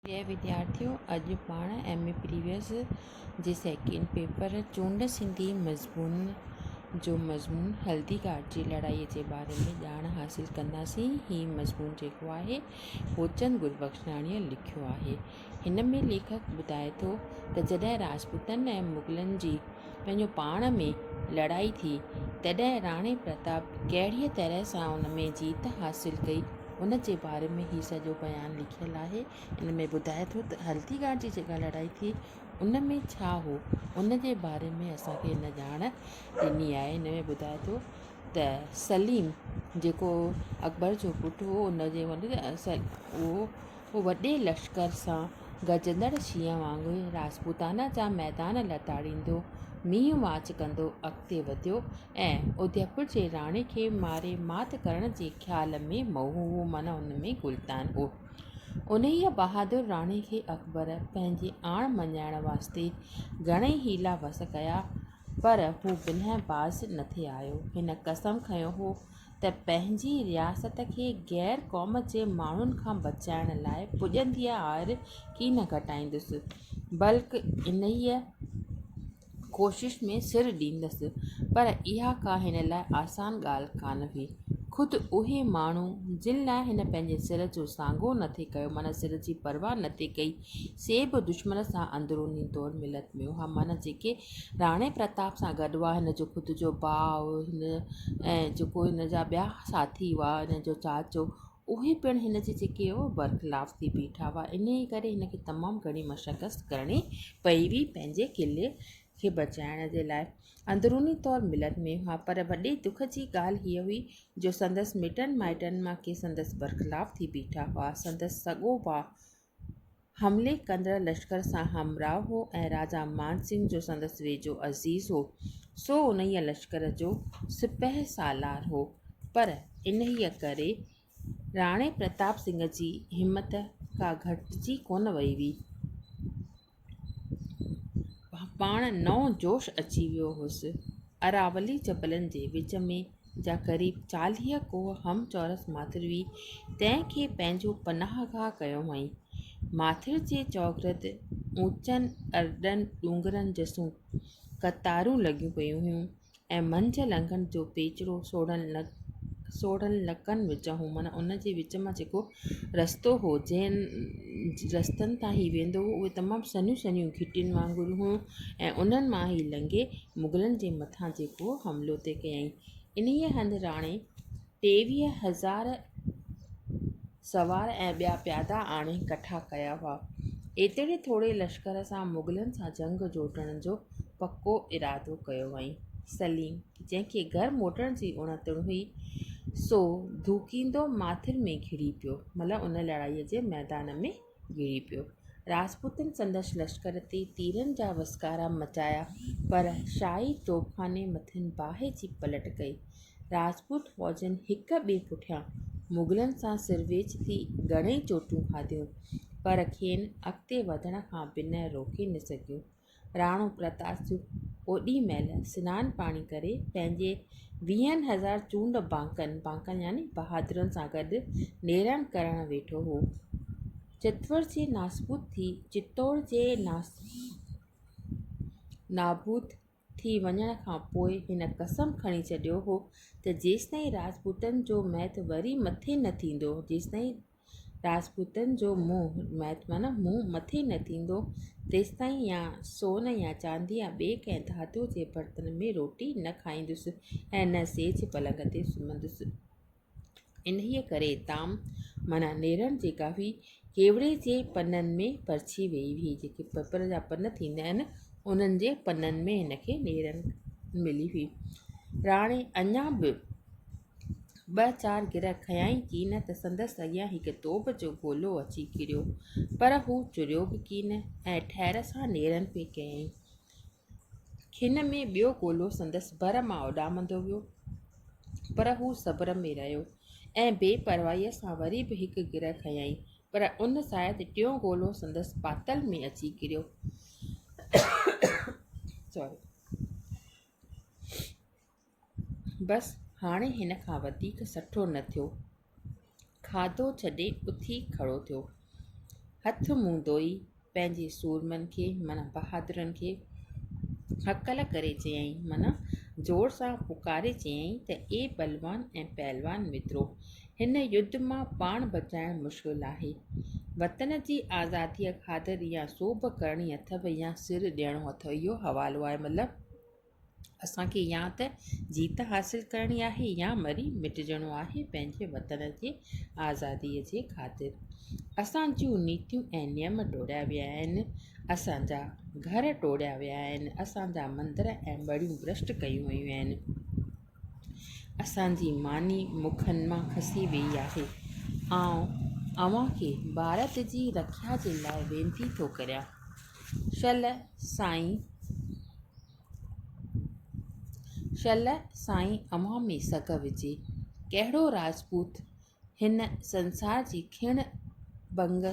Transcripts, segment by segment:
جي وديارٿيو اڄ پاڻ ايم اي پريويس جي سيڪنڊ پيپر چونڊ سنڌي مضمون جو مضمون هلدي گهاٽ جي لڙائي جي باري ۾ ڄاڻ حاصل ڪنداسين هي مضمون جيڪو آهي هوچند گربخشاڻيء لکيو آهي هن ۾ ليکڪ ٻڌائي ٿو ته جڏهن راجپوتن ۽ مغلن جي پنهنجو پاڻ ۾ لڙائي ٿي، تڏهن راڻي پرتاب ڪهڙيء طرح سان ان ۾ جيت حاصل ڪئي، ان جي باري ۾ هي سڄو بيان لکيل آهي. ان ۾ ٻڌائي ٿو ته هلدي گهاٽ جي جيڪا لڙائي ٿي، ان ۾ ڇا هو، ان جي باري ۾ اسان کي هن ڄاڻ ڏني آهي. ان ۾ ٻڌائي ٿو ته سليم جيڪو اڪبر جو پٽ هو، ان جي اهو هو وڏي لشڪر سان گرجندڙ شينهن وانگر راجپوتانا جا ميدان لتاڙيندو، مينهن مارچ ڪندو اڳتي وڌيو ۽ اوديپور جي راڻي کي ماري مات ڪرڻ جي خيال ۾ مئو هو معنيٰ ان ۾ غلطان هو. انهيء بهادر راڻي کي اڪبر پنهنجي آڻ مڃائڻ واسطي گهڻئي حيلا وس ڪيا پر هو بنهه باز نه ٿي آيو. هن قسم کنيو هو ته پنهنجي رياست کي غير قوم جي ماڻهن کان بچائڻ لاء پڄندي آهر ڪي نه گهٽائيندس، بلڪ انهيء ڪوشش ۾ سر ڏيندس. پر اها ڪا هن لاء آسان ڳالهه ڪانه هئي. خود اهي ماڻهو، جن لاء هن پنهنجي سر جو سانگو نه ٿي ڪيو، معنيٰ سر جي پرواهه نه ٿي ڪئي، سي به دشمن سان اندروني طور ملت ۾ هئا، معنيٰ جيڪي راڻي پرتاب سان گڏ هئا، هن جو خود جو ڀاء ۽ جيڪو هن جا ٻيا ساٿي هئا، هن جو چاچو، اهي پڻ هن جي جيڪي برخلاف ٿي بيٺا هئا، انهيء ڪري هن کي تمام گهڻي مشقت ڪرڻي پئي هئي پنهنجي قلعي کي بچائڻ جي لاء. اندروني طور ملت ۾ هئا، پر وڏي دک جي ڳالهه هيء هئي جو سندس مٽن مائٽن مان ڪي سندس برخلاف ٿي بيٺا هئا، سندس سڳو ڀاء حملي ڪندڙ لشڪر سان همراهه هو ۽ راجا مان سنگهه جو سندس ويجهو عزيز هو، سو انهيء لشڪر جو سپهه سالار هو، پر انهيء ڪري راڻي پرتاب سنگهه جي همت ڪا گهٽجي ڪونه وئي هئي. پاڻ نئون جوش اچي ويو هوس. اراولي جبلن جي وچ ۾ جا قريب چاليهه ڪوهه هم چؤرس ماٿر هئي، تنهن کي پنهنجو پناهگاهه ڪيو هئائين. ماٿر جي چؤگرد اوچن ارڏن ڏونگرن جسون قطارون لڳيون پيون هيون. ۽ منجهه لنگهن جو پيچرو سوڙهن لڪن وچان هو معنيٰ ان جي وچ مان جيڪو رستو هو جنهن رستن تان هي ويندو هو اهي تمام سنهيون سنهيون گهٽين وانگر هيون ۽ انهن مان هي لنگهي مغلن جي مٿان جيڪو حملو تي ڪيائين انهيء هنڌ راڻي ٽيويهه هزار سوار ۽ ٻيا پيادا آڻي ڪٺا ڪيا هئا. ايتري ٿوري لشڪر سان مغلن سان جنگ جوٽڻ جو پڪو ارادو ڪيو هئائين. سليم، جنهن کي گهر موٽڻ جي اڻتڻ هئي، سو ڌوڪيندو ماٿر ۾ گهڙي پيو، ملهه ان لڙائيء جي ميدان ۾ گهيري پيو. راجپوتن سندس لشڪر تي تيرن جا وسڪارا مچايا، پر شاهي توبخاني مٿن باهه جي پلٽ ڪئي. راجپوت فوجن هڪ ٻئي پٺيان مغلن سان سر ويچ ٿي گهڻئي چوٽون کاڌيون، پر کين اڳتي وڌڻ کان بنهه روڪي نه سگهيون. راڻو پرتاسيو اوڏي مهل سنان پاڻي ڪري پنهنجي ويهن هزار چونڊ بانڪن، بانڪن يعني بهادرن، سان گڏ نيرن ڪرڻ ويٺو هو. چتور جي ناسبود ٿي، چتور جي نابود ٿي وڃڻ کان پوء هن قسم کڻي ڇڏيو هو ته جيستائين راجپوتن جو مهت وري مٿي نه ٿيندو، جيستائين راجپوتن جو منهن، ميت معنيٰ منهن، مٿي نه ٿيندو، تيستائين يا سون يا چاندي يا ٻئي ڪنهن ڌاتوء جي برتن ۾ روٽي نه کائيندس ۽ نه سيج پلنگ تي سمهندس. انهيء ڪري تام معنيٰ نيرڻ جي ڪاوي ڪيوڙي جي پنن ۾ پرڇي ويئي هئي، جيڪي پپر جا پن ٿيندا آهن، انهن جي پنن ۾ هن کي نيرڻ ملي هئي. راڻي اڃا به. ٻه چار گر کنيائين ڪين ته سندس اڳيان هڪ توب جو گولو اچي ڪريو، پر هو چريو به ڪين ۽ ٺهر سان نيرن پئي ڪيائين. کن ۾ ٻيو گولو سندس ڀر مان اڏامندو ويو، پر هو صبر ۾ رهيو ۽ بي پرواهيء سان وري به هڪ گر کنيائين، پر ان ساعت ٽيون گولو سندس پاتل ۾ اچي ڪريو. بس هاڻي هن کان وڌيڪ سٺو نه ٿيو. کاڌو ڇڏي اٿي کڙو ٿيو. هٿ منهن ڌوئي پنهنجي سورمن کي معنيٰ بهادرن کي هڪل ڪري چيائين معنيٰ زور سان پڪاري چيائين ته اي بلوان ۽ پهلوان مترو! هن يڌ مان پاڻ بچائڻ مشڪل آهي. وطن جي آزاديء خاطر يا سوڀ ڪرڻي اٿئو يا سر ڏيڻو اٿئو. اهو حوالو آهي مطلب. اسان کي يا ته جيت حاصل ڪرڻي آهي يا مري مٽجڻو آهي پنهنجي وطن جي آزاديء جي خاطر. اسان جون نيتيون ۽ نيم ٽوڙيا ويا آهن، اسان جا گهر ٽوڙيا ويا آهن، اسان جا مندر ۽ ٻڙيون برشٽ ڪيون ويون آهن. اسان جي ماني مکن مان کسي ويئي آهي. آئون اوهان کي ڀارت جي رکيا جي لاء وينتي ٿو ڪريان. شل سائين شل سائين اوهان ۾ سگهه وجهي. ڪهڙو راجپوت هن سنسار جي کڻ ڀنگ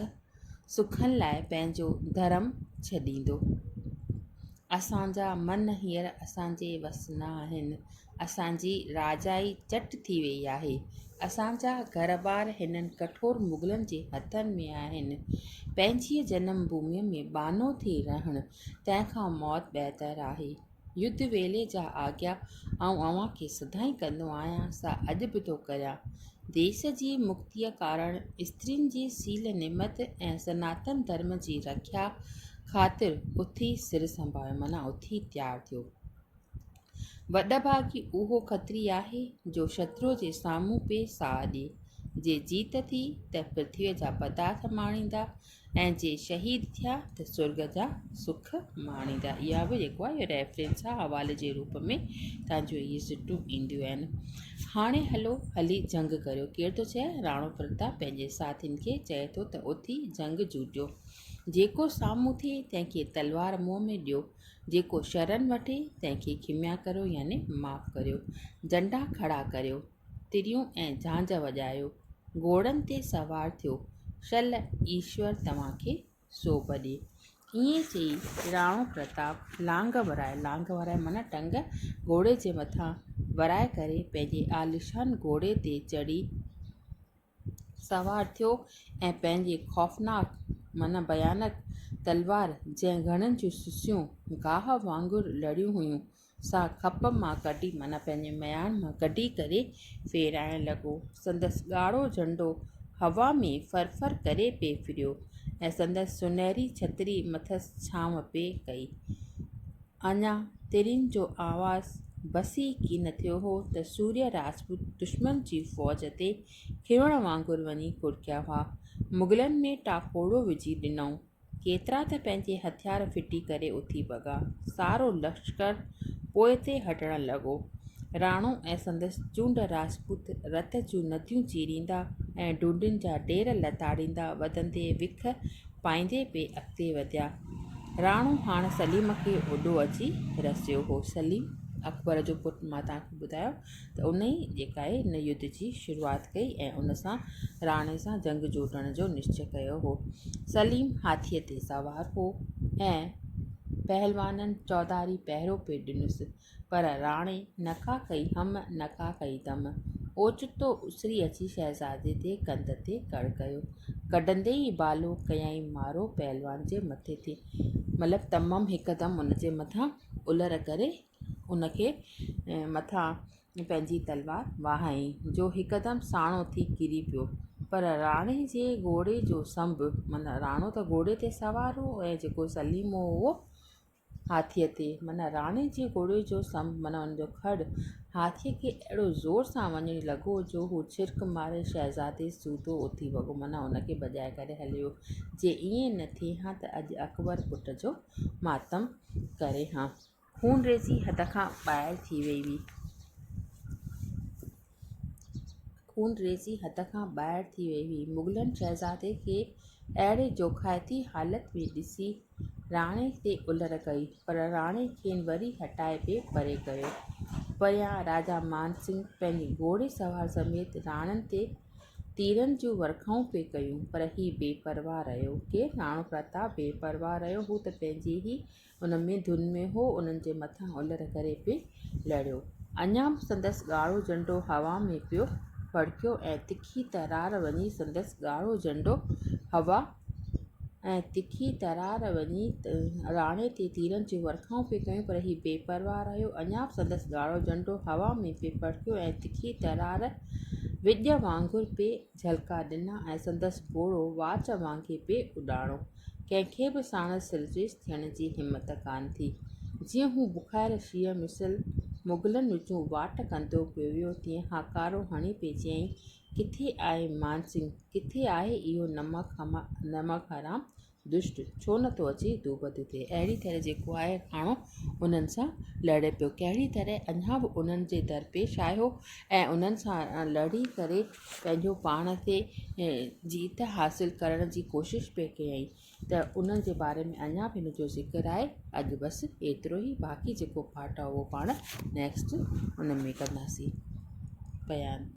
سکن لاء پنهنجو ڌرم ڇڏيندو. اسان جا من هينئر اسان جي وس نه آهن. اسان جي راجائي چٽ ٿي ويئي آهي. اسان جا گهر ٻار هنن ڪٺور مغلن جي هٿن ۾ آهن. پنهنجيء جنم ڀوميء ۾ ٻانهو ٿي رهڻ، تنهن کان موت بهتر آهي. يڌ ويلي جا آگيا آئون اوهان کي سدائين ڪندو آهيان، سا اڄ به ٿو ڪريان. ديس جي مڪتيء ڪارڻ استرين جي سيل نمت ۽ سناتن ڌرم جي رکيا خاطر اٿي سر سنڀايو معنيٰ اٿي تيار ٿيو. وڏڀاڳي اهو کتري آهي، جو شترو جي سامهون پئي ساهه ڏئي. جي جيت ٿي ته پرٿويء جا پدارٿ ماڻيندا ۽ ۽ جي شهيد ٿيا ته سرڳ جا سک ماڻيندا اها به جيڪو آهي ريفرنس آهي حوالي جي روپ ۾ تانجو اهي سٽون اينديون آهن هاڻي هلو هلي جنگ ڪريو ڪير ٿو چئي راڻو پرتاب پنهنجي ساٿين کي چئي ٿو ته اٿي جنگ جوٽيو جيڪو سامهون ٿئي تنهن کي تلوار منهن ۾ ڏيو جيڪو شرن وٺي تنهن کي کميا ڪريو يعني معاف ڪريو ڊنڊا کڙا ڪريو تريون ۽ جھانج وڄايو، گھوڙن تي سوار ٿيو، شل ايشور توھان کي سوڀ ڏي. ائين چئي راڻو پرتاب لانگ ورائي، لانگ ورائي معنيٰ ٽنگ، گھوڙي جي مٿان ورائي ڪري پنھنجي عاليشان گھوڙي تي چڙھي، سوار ٿيو ۽ پنهنجي خوفناڪ معنيٰ بيانڪ تلوار، جنهن گهڻن جون سسيون گاهه وانگر لڙيون هيون، سا کپ مان ڪڍي معنيٰ پنهنجي مياڻ مان ڪڍي ڪري ڦيرائڻ لڳو. سندس ڳاڙهو جهنڊو هوا ۾ ڦر ڦر ڪري پئي ڦريو ۽ سندس سونهري ڇتري مٿس ڇانو پئي ڪئي. اڃا ترين جو آواز بس ئي ڪين ٿيو هو ته سوريا راجپوت دشمن جي فوج تي کروڻ وانگر وڃي ڪڙڪيا هئا. مغلن ۾ ٽاڪوڙو وجهي ڏنائون. ڪيترا ته پنهنجي هٿيار ڦٽي ڪري اٿي ڀڳا. سارو لشڪر پوئتي هٽڻ لڳو. راڻو ۽ سندس چونڊ راجپوت رت جون نديون چيريندا ۽ ڍونڍين جا ڍير لتاڙيندا وڌندي وک پائيندي پئي اڳتي وڌيا. راڻو هاڻ سليم کي اوڏو اچي رسيو هو. سليم، اڪبر جو پٽ مان توهان کي ٻڌايو ته ان ئي جيڪائي ان يڌ جي شروعات ڪئي ۽ ان سان راڻي سان جنگ جوٽڻ جو نشچي ڪيو هو. سليم هاٿيء تي سوار هو ۽ پهلوانن چوڌاري پهرو پئي ڏنس. پر راڻي نڪا ڪئي هم، نڪا ڪئي دم. اوچتو اسري اچي شهزادي جي ڪنڌ تي ڪڙ ڪيو. ڪڍندي ئي بالو ڪيائين مارو پهلوان جي مٿي تي. مطلب تمم هڪدم ان جي مٿان الر ڪري ان کي مٿان پنهنجي تلوار وهائين، جو هڪدم ساڻو ٿي ڪري پيو. پر راڻي جي گهوڙي جو سنڀ، معنيٰ راڻو ته گهوڙي تي سوار هو ۽ جيڪو سليمو هو، هاٿيء تي، معنيٰ راڻي جي گهوڙي جو سنب، معنيٰ ان جو کڙ، هاٿيء کي اهڙو زور سان وڃڻي لڳو، جو هو ڇرڪ ماري شهزادي سوڌو اٿي وڳو، معنيٰ ان کي ڀڄائي ڪري هلي ويو. جي ائين نه ٿئي ها ته اڄ اڪبر پٽ جو ماتم ڪري ها. خونريزي حد کان ٻاهر ٿي وئي هئي. خونريزي حد کان ٻاهر ٿي وئي هئي. مغلن شهزادي کي اهڙي جوکائتي حالت ۾ ڏسي راڻي تي الر ڪئي، پر راڻي کين وري هٽائي بي پري ڪيو. پريان راجا مانسنگ پنهنجي گهوڙي سوار سميت راڻن تي تيرن جون ورکائون پئي ڪيون، پر هي بي پرواهه رهيو. ڪير راڻو پرتاب بي پرواهه رهيو هو ته پنهنجي ئي ان ۾ ڌن ۾ هو انهن جي مٿان الر ڪري پئي لڙيو. اڃا به سندس ڳاڙهو جهنڊو هوا ۾ پيو ڦڙڪيو ۽ تکي ترار وڃي سندس ڳاڙهو جهنڊو هوا ۽ تکي ترار وڃي راڻي تي تيرن جون ورکائون پئي ڪيون پر هي بي پرواهه رهيو اڃا به سندس ڳاڙهو جهنڊو هوا ۾ پئي ڦڙڪيو ۽ تکي ترار وڄ وانگر پئي جهلڪا ڏنا ۽ سندس گهوڙو واچ وانگي پئي اڏاڻو. ڪنهن کي به ساڻس سرزيش ٿيڻ جي همت ڪانه ٿي. جيئن هو بکائر شينهن مثل مغلن وچون واٽ ڪندو پيو ويو تيئن هاڪارو هڻي پئي چيائين، ڪٿي آهي مانسنگ، ڪٿي آهي اهو نمڪ حرام دشٽ، ڇو نه ٿو اچي تون وڌ ٿي. اهڙي طرح جيڪو آهي ڪاڻو انهن سان لڙي پيو. ڪهڙي طرح اڃا به انهن جي درپيش آيو ۽ انهن سان لڙي ڪري پنهنجو پاڻ تي جيت حاصل ڪرڻ جي ڪوشش پئي ڪيائين ته انهن جي باري ۾ اڃا به هن جو ذڪر آهي. اڄ بس ايترو ئي باقي جيڪو پارٽ آهي اهو پاڻ نيڪسٽ ان ۾ ڪنداسين. بيان.